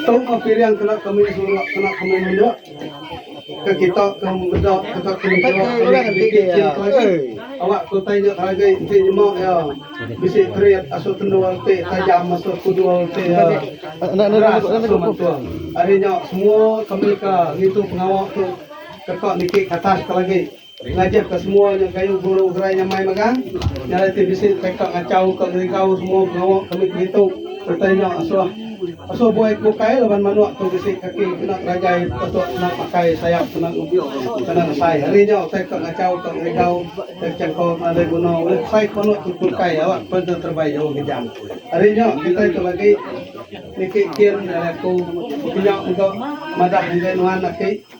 Tau ka pilihan kena ke mih surak kena ke mih mendok ke kita ke meda kita ke mih surak ke mih nitih ke lagi awak ke utai nya ngagai enti nyema iya bisi krit asu tendul ti tajam asu kudul ti keras asu mantung. Ari nya semua ke mih ka ngitu pengawa tu deka niki ke atas ke lagi. Ngajah ka semua nya kayu guru gerai nyamai mega nya dah ti bisi teka ngachau ka gerigau semua pengawa kami ke ditu sereta nya asoh asoh buai ke bukai laban manok tu bisi kaki kena gerajai patut kena pakai sayap kena kena ngesai hari nya utai ka ngachau ka gerigau utai bechangkau ke nadai guna ulih besai ke manok tu pulkai awak pen deh terebai jauh gejang. Hari nya kitai tu agi niki kin ari aku pekenya mega madah enggai nuan aki.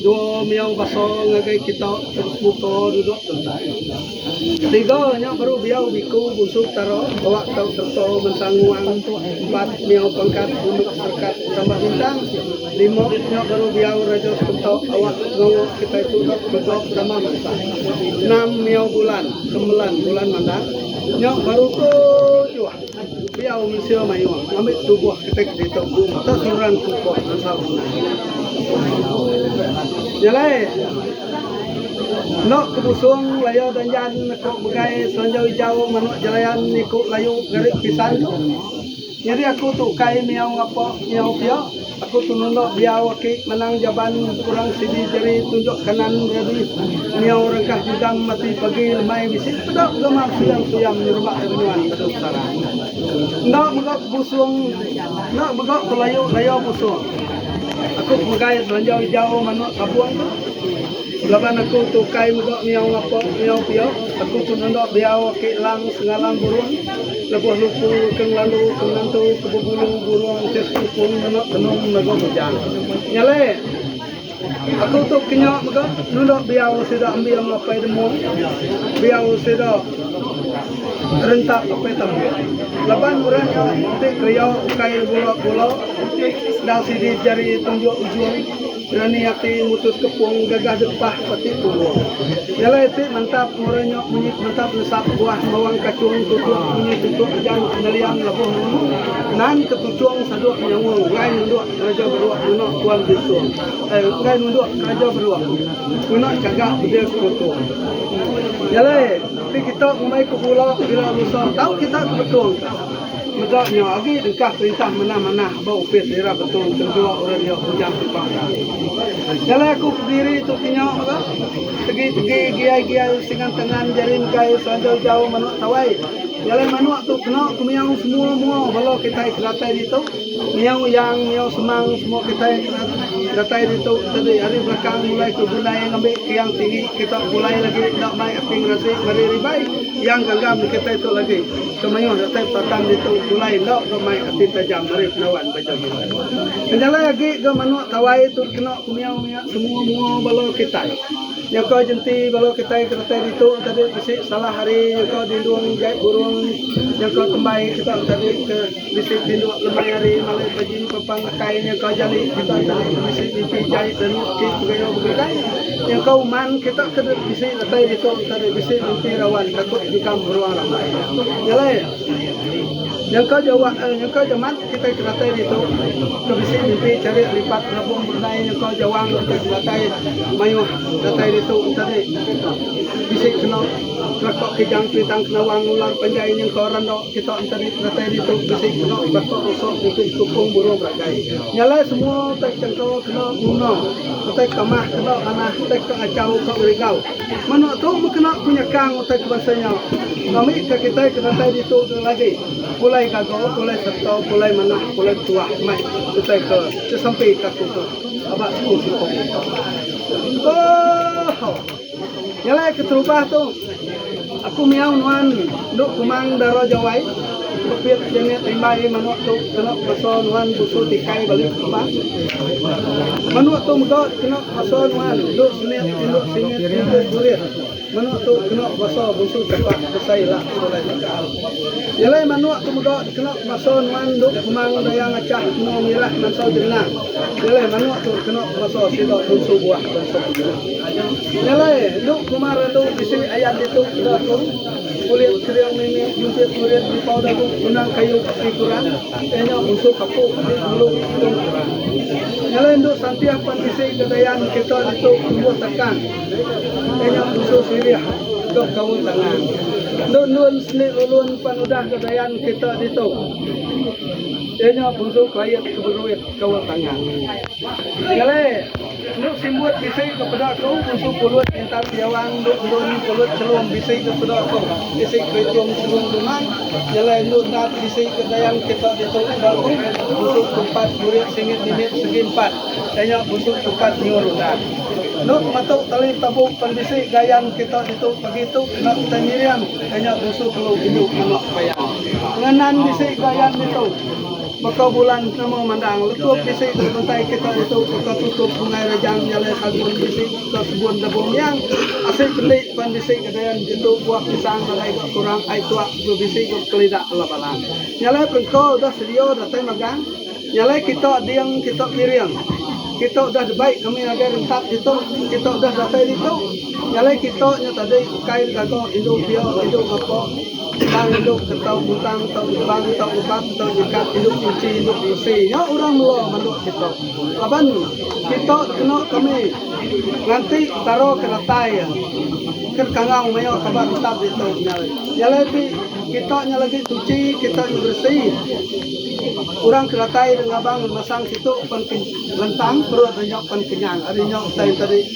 Dua miyau basa ngagai kita muka duduk tentai. Tiga nya baru biau biku Bunsu Petara bawa tau serta Mensang Nguang. Empat miyau pangkat Bunuk Serkat Tambah Bintang. Lima nya baru biau Raja Sekunta awak pengawa kitai tu dok mega penama mansang. Enam miyau Bulan, Kembelan Bulan Mandar, nya baru tujuh. Pia mensia mayuh ngambi tubuh ketegal ditu sereta seruran tubuh ensal menang. Nya alai, enda ke busung laya danjan ku Megai Selanjau Ijau manuk jelayan iku layu ngarit pisan tu. Nyadi aku tu ukai miau ngapa miau pia. Aku penunda diau aki manang jaban kurang sidi jari tunjuk kanan ready niau rengkah jujam ati pagi lemai bisi peda gama suyam suyam nyerumba ari menyuan batu petara enda mega kebusung enda mega ke layu layu busung aku pemegai belanjau ijau manuk tabung tu laban aku tu ukai mega niau ngapa niau pia aku penunda diau aki lang sengalang burung. Lebuh luku ke ngelalu ke ngentu ke bebulu burung ke sekukung nemu tenung mega bujang. Nyale. Aku tu kenya mega nunda biau sida ambing apai demu. Biau sida rentap apai tambik. Laban orang nya ti keria ukai gula-gula. Enda sidi jari tunjuk ujung. Berani ati mutus kepung gaga getah pati punggung. Nyelai iti mantap murai nyok munyi mantap nesap buah mawang kachung tutuk munyi tutuk ujan neliang lebuh nemu nan ketuchung saduk nyaung enggai nunduk keraja beruk ngena tuan bintung eh enggai nunduk keraja beruk ngena chaga dia sekutu. Nyelai ti kita ngumbai ke bula bila lusa tau kita ke betung. Meda nya agi engkah perintah mena manah ba opis Lira Betong Tentua Orang Dia Bujang Kempang ka. Jalai aku ke diri tu ti nya mega tegi tegi giai giai usingan tangan jari engkai selanjau jau manuk tawai. Jalai manuk tu kena ku miau semua mua bala kitai ke datai ditu. Miau yang miau semang semua kitai ke datai ditu tadi ari belakang mulai ku Gundai ngambi ke yang tinggi kita pulai lagi enda mai ati ngerasi meri ribai yang gangga meri kitai tu lagi. Ke mayuh datai patan ditu pulai enda ke mai ati tajam ari pengawa Baja Mila. Penjalai agi ke manuk tawai tu dikena kumiau maya semua mua bala kitai. Nyaka jenti bala kitai ke datai ditu tadi bisi salah ari nyaka dindung jai burung nyaka kembai kita tadi ke. Bisi peninduk lemai ari malai pajin papan akai nya ka jali kita enda bisi mimpi jai tenuk ti begayau begedai nya ka uman kita ke dep bisi datai ditu enta dep bisi mimpi rawan takut nyengkam beruang rambai nya alai nya ka jawa nya ka jamat kita ke datai ditu ke bisi mimpi charik lipat berabung begedai nya ka jawang kita ke datai mayuh datai ditu enta dep bisi kena Telekok Kijang Sengitang Kenawang Ngular Panjai Nyengkaw Rando Kita Enteri Penatai Ditu Bisi Keno Telekok Rusok Ngukit Kupung Buru Beragai Nya alai semua utai ke engka kena nguna utai ke mah kena manah utai ke achau ka ngerigau menoa tu meh kena ku nyekang utai ke bansa nya ngambik ka kitai ke datai ditu dulu agi pulai gaga pulai serta pulai manah pulai betuah mai utai ke sesempi ka aku tu aba siku siko meh engka. Oohh. Nyelai keterubah tu, aku miau nuan endu kumang dara jawai pepit Janet rimbai manuk tu kena kuasa nuan busu tikai balik keterubah. Manuk tu mega kena kuasa nuan endu semit indu simit kumpul kulit manuk tu kena kuasa busu chapa besai ila sekolah tika. Nyelai manuk tu mega kena kuasa nuan endu kumang daya ngachah engo mirah mansau jenenang. Nyelai manuk tu kena kuasa sida busu buah bensuk. Nyelai endu kuma ratu bisi ayan ditu enda aku kulit kering mimi jumpit kurit dipau dagu benang kayu ti kurang iya nya musuh kapu ti ngelu tung kurang nyelai endu santih pan bisi ga dayan kita ditu tumbuh takang iya nya musuh sirih dok kaul tangan endu endun seni ulun pan udah ga dayan kita ditu iya nya musuh klait keberuit kaul tangan nyelai. Endu simbut bisi ke peda aku musu pulut pintar diawang endu endun pulut chelum bisi ke peda aku bisi kerichum chelum dungan nyelai endu endat bisi ke dayang kita ditu peda aku musu tupat burit singit nimit segi empat iya nya musu tupat nyiur undan endu matu tali tabuk pan bisi gayan kita ditu pagi tu kena kitai nyiring iya nya musu telu indu manok bayang ngenan bisi gayan ditu. Baka bulan nama mandang letup bisi dek bentai kita ditu baka tutup Sungai Rejang nyalai sagun bisi ka kebun Lebuh Miang asik bendi pan bisi ka dayan ditu buah pisang nadai ga kurang ai tuak ga bisi ga bekelida ala bala nyalai perengko udah sedia datai magang nyalai kita ding kita piring kita udah debai kami ngagai rentap ditu kita udah datai ditu nyalai kita nya tadi ukai digaga indu pia indu ngapa. Tang idup ke tau butang, tau ibang, tau ubak, tau nyekap, idup kunchi, idup bisi nya orang melo manduk kita. Laban kita kena kami nganti taro ke datai iya ke kangau mayuh taba tetap ditu nya alai. Nya alai ti kita nya lagi suchi, kita nya beresi. Orang ke datai ri ngabang masang situ pan ke lentang perut ri nya pan kenyang ari nya utai enti ri.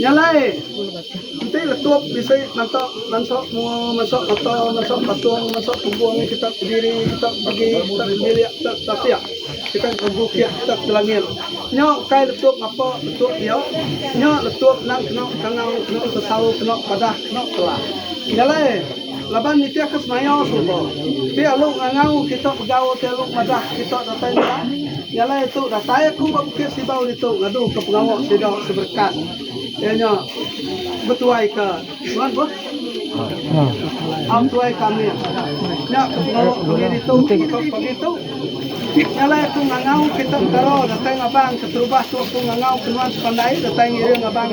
Nya alai, enti letup bisi nanta bansa semua mansok mata, mansok patung, mansok tumbung nya kitak bediri, kitak pegi, kitak ngebilik, kitak betatik, kitak ngerebu kiak kitak ke langit. Nya ukai letup ngapa betuk dia, nya letup endang kena bekangau, kena besau, kena padah, kena telah. Nya alai. Laban nitihka semaya suba, ti alu ngangau kita begaul ti alu madah kita datai nya iya lah itu datai aku ba Bukit Sibau ditu ngaduka pengawa sida seberekat iya nya betuaika nuan boh au tuai kami nya ke pengawa kami ditu tau pagi tu iya lah aku ngangau kita entara datai ngabang keterubah tu aku ngangau ke nuan sepandai datai ngiring abang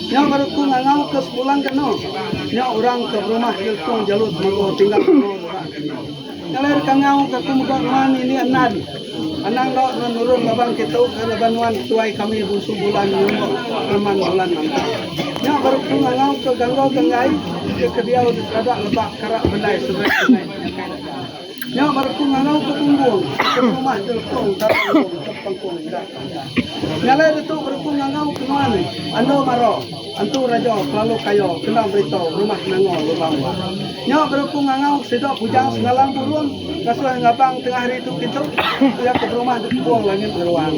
Nyau baru ku ngangau ke sebulan ke anu. Nyau orang ke berumah ke lekong jalut mago tinggal mago dura. Ngalai deka ngau ke aku mega nuan indi andan. Anang enda nuan nurung laban ke tu ke laban nuan ketuai kami bungsu bulan nyungok reman bulan manta. Nya baru ku ngangau ke ganggo ganggai ke ke diau di serada lebak karak belai seberai sungai penyakai deka. Nya baru aku ngarau ke Bumbung. Ke rumah Jelpong Tara Enggong ke Pengkong Irak Bandar. Nya alai ditu baru aku ngangau ke nuan Ando Maro, Antu Rajo kelalu kayo kena berito rumah Nangol Lubang Wah. Nya baru aku ngangau sida bujang sengalang burung ngasuh ngabang tengah hari tu kintu iya ke berumah di Kebong Langit Ngeruang.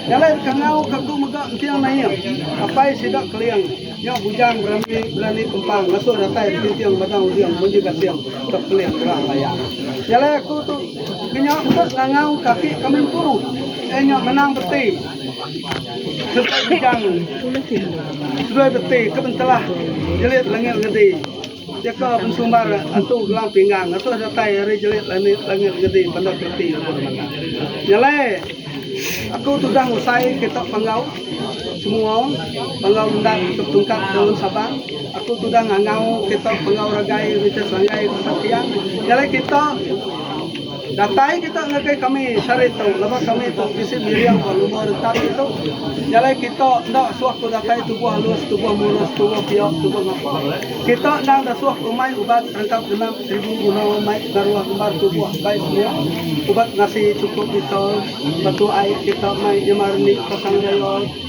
Nya alai dikangau ke aku mega enting naing apai sida Keling. Nya bujang berani berani kempang ngasuh datai betinting batang uding munyi gasing ke pelih gerang raya. Jalai aku tu kenya mega langau ke aki kami empu eh nya menang beti sereta bujang sedoi beti ke bentelah jelit lengi ngedi. Jaka bensumbar Antu Gelang Pinggang ngasuh datai ari jelit lanit langit ngedi Bandar Keleti Lebuh Remandang. Nya alai aku tudah ngusai kita panggau semua panggau endang ke petungkat dalam Sabang. Aku tudah ngangau kita panggau ragai Richard Sanggai Patap Tiang. Nya alai kita. Datai kita ngagai kami sehari tu laban kami tu bisi miring ba luma retak ditu. Jalai kita enda suah ku datai tubuh alus, tubuh murus, tubuh piok, tubuh ngapa. Kita endang enda suah ku mai ubat rengkap genap seribu guna mai pengaruh ngembar tubuh bai semua. Ubat ngasi chukup Dettol, batu ai kita mai nyemar nik pasang raya.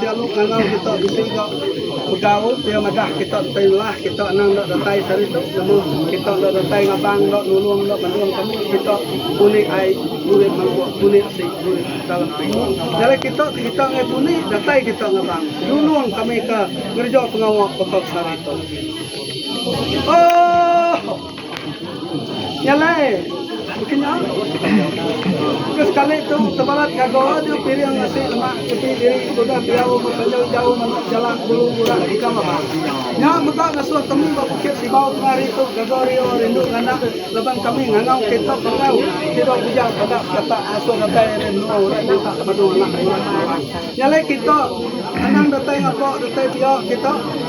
Dialu ngangau kita bisi ga begau pia madah kita ti lah kita anang enda datai sehari tu nama kita enda datai ngabang enda nulung enda banung kamu kita puni ai puni mangkuk puni si puni dalam ti nyalai kita ti kita ngai puni datai kita ngabang nulung kami ka ngereja pengawa baka sehari tu. Oohh. Nya alai, baka nya, ke sekali tu tebalat gaga deh piring nasi lemak keti diri tudah diau bepanjau jauh manah jalak bulu burak ikam aba. Nya mega ngasuh kami ba Bukit Sibau tengah hari tu gaga rio rindu nganak laban kami ngangau kitak bangau ti dau bujang kada bekatak ngasuh datai ari menua orang nyata ke badu anak buah. Nya alai kitak anang datai ngapa datai pia kitak.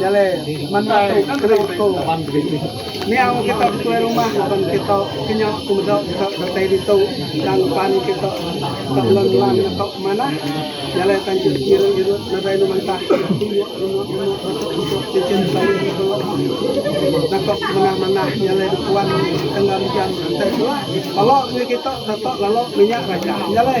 Jale manda tu kena tu niang kita betuai rumah laban kita kenya ku meda kita datai ditu tang pan kita tak lon lang atau ke manah jale tang kita ngiru ngiru nadai nu mentah tunjuk tunjuk tunjuk tunjuk tunjuk cincin sayur di belok nakok manah manah jale dikuan tengah jam tengah suah balok ni kita dato lalu minyak raja jale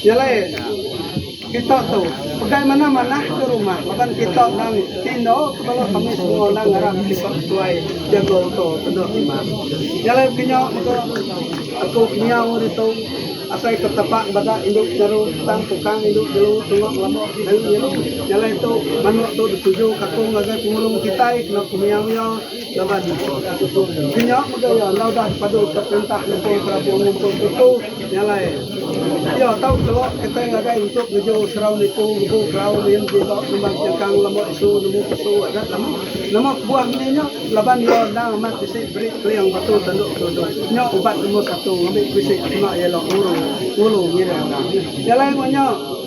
Nyelai kita tu pegai manah manah ke rumah laban kita nang ti endo tebelu kami semua nang ngarap kita sesuai jago uto tedok rumah. Nyelai penyo mega aku kenyau ari tu asai ke tepak bada indu nyaru tang tukang indu jelu tunga ngelabo nyelu nyelu. Nyelai tu manuk tu dituju ka aku ngagai pengulung kitai kena pengiau iya. Laban ti nya mega iya enggau udah dipaduka perintah nempung kerabu ngumpul tuku nya alai. Iya tau tu kitai ngagai intu ngeju serau nipu ngebu kerau min ji ba Lembang Chengkang lama isu nemu pesu adat lama. Nama kebuah meni nya laban iya endang amat bisi beri keling batu tandu kelundung. Nya ubat nombor satu ngambi bisi sema iya ila ngulu ngira endang. Nya alai meh nya.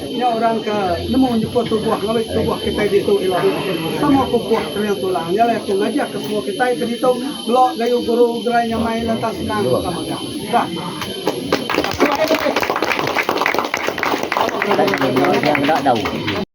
Nya orang ke nemu nyeput tubuh ngawi tubuh kitai ditu ila sama ku puak kering tulang. Nya alai aku ngajar ke semua kitai ke ditu melo gayu guru gerai nyamai lantang senang baka mega. Dah.